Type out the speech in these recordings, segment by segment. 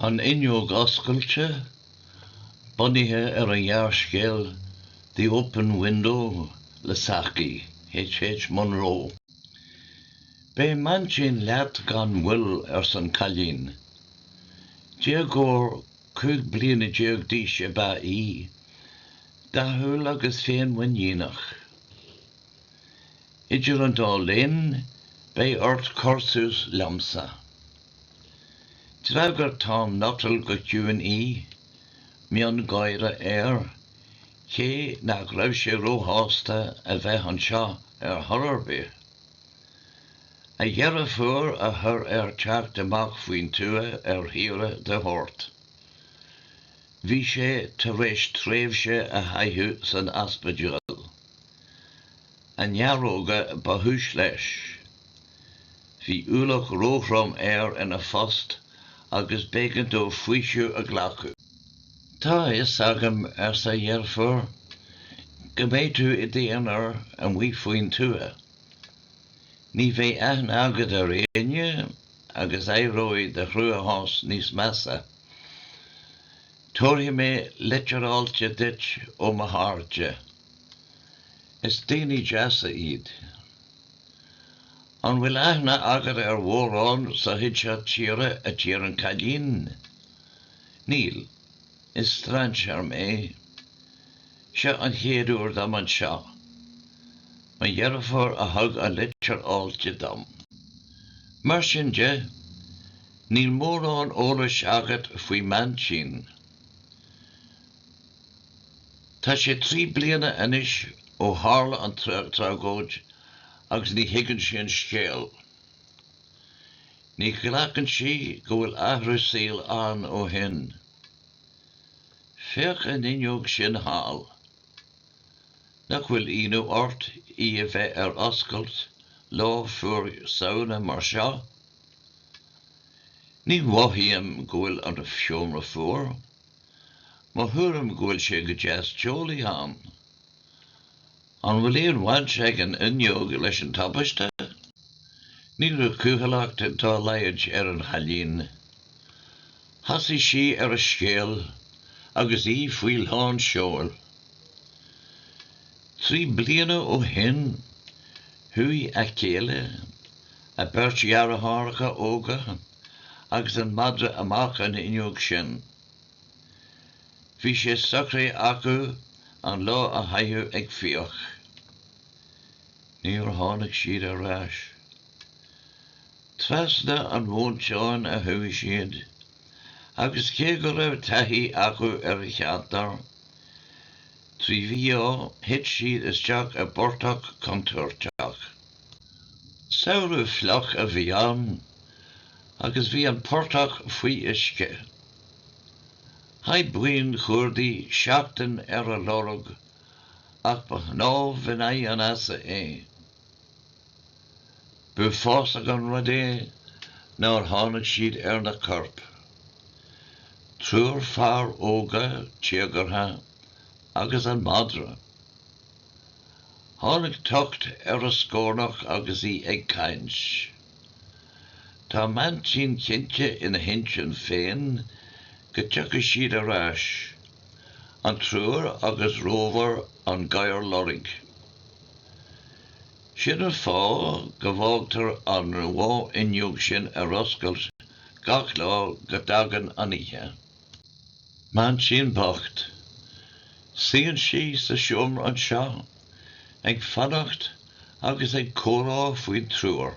An Fhuinneog Oscailte, Bunaithe ar an ghearrscéal The Open Window le Saki, H. H. Munro. Beidh m'aintín leat gan mhoill, arsa an cailín. Déagóir cúig bliana déag d'aois ab ea í, dathúil agus féinmhuiníneach. Idir an dá linn, beidh ort cur suas liomsa. D'fhreagair Tom Nuttall go ciúin í, miongháire air, cé nach raibh sé róshásta a bheith anseo ar chor ar bith. A dheirfiúr a chuir air teacht amach faoin tuath ar shaoire de shórt. Bhí sé tar éis tréimhse a chaitheamh san ospidéal. a néaróga ba chúis leis. Bhí ualach róthrom air ina phost agus b'éigean dó faoiseamh a ghlacadh. 'Tá a fhios agam, arsa a dheirfiúr, 'go mbeidh tú i d'aonar amuigh faoin tuath. Ní bheidh aithne agat ar éinne agus éireoidh do chruachás níos measa. Tabharfaidh mé litir fáilte duit ó mo chairde. Is daoine deasa iad. An bhfuil aithne agat ar mhórán sa chuid seo tíre a d'iarr an cailín? Níl. Is strainséar mé. Seo an chéad uair dom anseo. Mo dheirfiúr a thug an litir fáilte dom. Mar sin de, níl mórán eolais agat faoi m'aintín. Tá sé trí bliana anois ó tharla an tragóid agus ní thuigeann sí an scéal. Ní ghlacann sí go bhfuil athrú saoil ann ó shin. Féach an fhuinneog sin thall. Nach bhfuil ionadh ort í a bheith ar oscailt lá fuar Samhna mar seo? Ní mhothaím go bhfuil an seomra fuar. Mo thuairim go bhfuil sé go deas teolaí ann. An bhfuil aon bhaint ag an fhuinneog leis an tubaiste? Ní raibh cúthaileacht dá laghad ar an chailín. Thosaigh sí ar a scéal agus í faoi lán seoil. Trí bliana ó shin, chuaigh a céile, a beirt dheartháireacha óga, agus an madra amach an fhuinneog sin. Bhí sé socraithe acu an lá a chaitheamh ag fiach. Níor tháinig siad ar ais. Trasna an mhóinteáin a chuaigh siad, agus cé go raibh taithí acu ar an cheantar trí mhí-ádh thit siad isteach i bportach contúirteach. Samhradh fliuch a bhí ann agus bhí an portach faoi uisce. Chaith buíon chuardaigh seachtain ar a lorg ach ba shnámh in aghaidh an easa é. B'uafásach an rud é nár tháinig siad ar na coirp. Triúr fear óga téagartha agus an madra. Tháinig tocht ar a scornach agus í ag caint. Tá m'aintín cinnte ina hintinn féin go dtiocfaidh siad ar ais, an triúr agus Rover an gadhar loirg. Sin an fáth go bhfágtar an bháfhuinneog sin ar oscailt gach lá go dtagann an oíche. M'aintín bocht. Suíonn sí sa seomra anseo ag fanacht agus ag comhrá faoin triúr.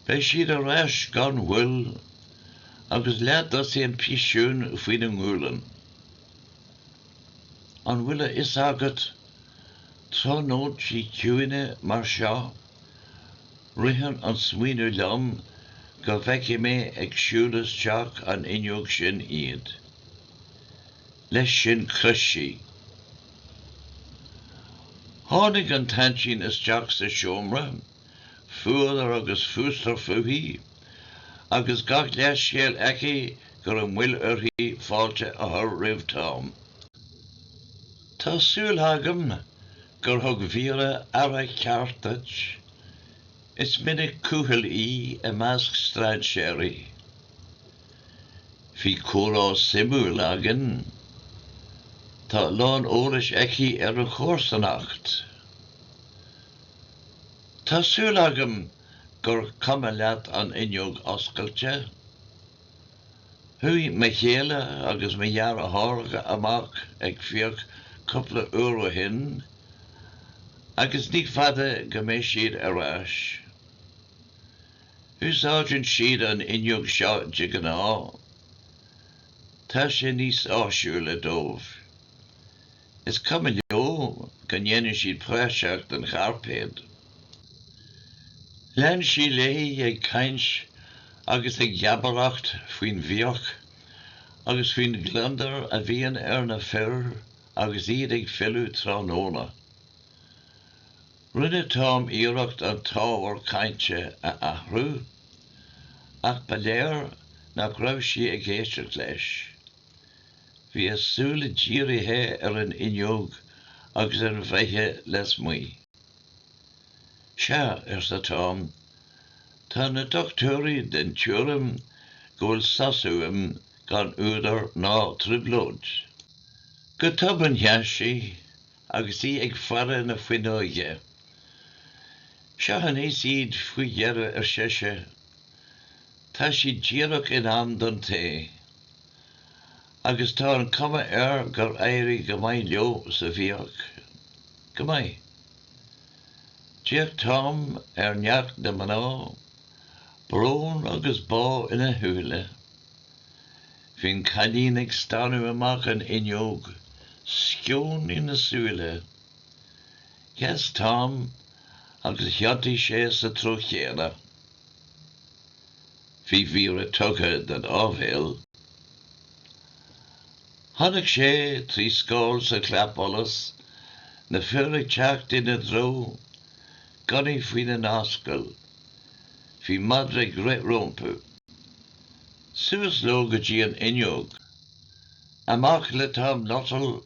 Beidh siad ar ais gan mhoill agus leath-dosaen piasún faoina ngualainn. An bhfuil a fhios agat, tráthnóintí ciúine mar seo, Ritheann an smaoineamh liom go bhfeicfidh mé ag siúl isteach an fhuinneog sin iad. Leis sin chrith sí. Tháinig an t-aintín isteach sa seomra, fuadar agus fústar fúithi, agus gach leithscéal aici go raibh moill uirthi fáilte a chur roimh Tom. Tá súil agam gur thug Vera aire ceart duit. Is minic cúthail í i measc strainséirí. Bhí comhrá suimiúil againn. Tá a lán eolais aici ar an chomharsanacht. Tá súil agam gur cuma leat an fhuinneog oscailte. Chuaigh mo chéile agus mo dheartháireacha amach ag fiach cúpla uair ó shin agus ní fada go mbeidh siad ar ais. Úsáideann siad an fhuinneog seo de ghnáth. Tá sé níos áisiúla dóibh. Is cuma leo go ndéanann siad praiseach den chairpéad. Lean sí léi ag caint agus ag geabaireacht faoin bhfiach agus faoin gliondar a bhíonn ar na fir agus iad ag filleadh tráthnóna. Rinne Tom iarracht an t-ábhar cainte a athrú, ach ba léir nach raibh sí ag éisteacht leis. Bhí a súile dírithe ar an fhuinneog agus ar an bhfaiche lasmuigh. 'Sea, arsa Tom, 'tá na dochtúirí den tuairim go bhfuil sos uaim gan údar ná trioblóid. Go tobann sheas sí agus í ag faire na fuinneoige. 'Seo aníos iad faoi dheireadh, ar sise. 'Tá siad díreach in am don tae. agus tá an cuma air gur éirigh go maith leo sa bhfiach. Go maith. D'fhéach Tom ar neacht na mná, brón agus bá ina shúile. Bhí an cailín ag stánadh amach an fhuinneog, sceon ina súile. Sheas Tom agus thiontaigh sé sa treo chéanna. Bhí Vera tugtha don áibhéil. Chonaic sé trí scáil sa chlapsholas, na fir ag teacht ina dtreo, gunnaí faoina n-ascaill. Bhí madra ag rith rompu. Suas leo go dtí an fhuinneog. Amach le Tom Nuttall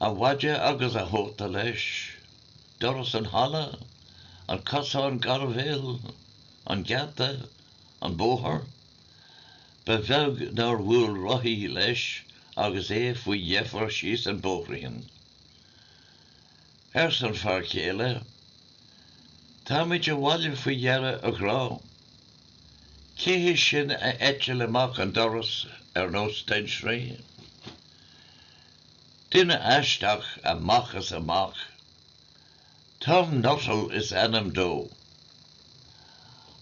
A mhaide agus a chóta leis, doras an halla, an cosán gairbhéil, an geata, an bóthar. Ba bheag nár bhuail rothaí leis agus é faoi dheifir síos an bóithrín. Arsa an fear céile, Táimid abhaile faoi dheireadh, a ghrá. Cé hé sin a eitil amach an doras ar nós tintrí? Duine aisteach amach is amach. Tom Nuttall is ainm dó.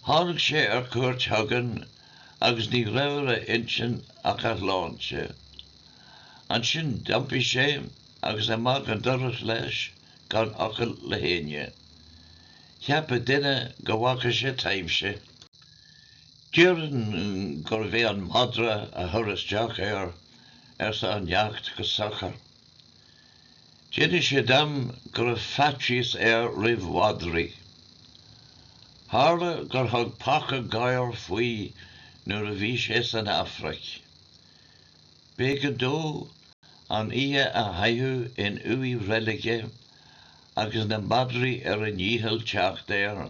Tháinig sé ar cuairt chugainn agus ní raibh ar a intinn ach a shláinte. Ansin d'iompaigh sé agus amach an doras leis gan fhocal le héinne. Cheapfadh duine go bhfaca sé taibhse. Déarfainn gurbh é an madra a chuir isteach air arsa an neacht go socair. D'inis sé dom go raibh faitíos air roimh mhadraí. Tharla gur thug paca gadhar faoi nuair a bhí sé san Afraic. B'éigean dó an oíche a chaitheamh in uaigh reilige agus na madraí ar a ndícheall teacht air,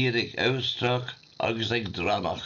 iad ag amhastrach agus ag drannach.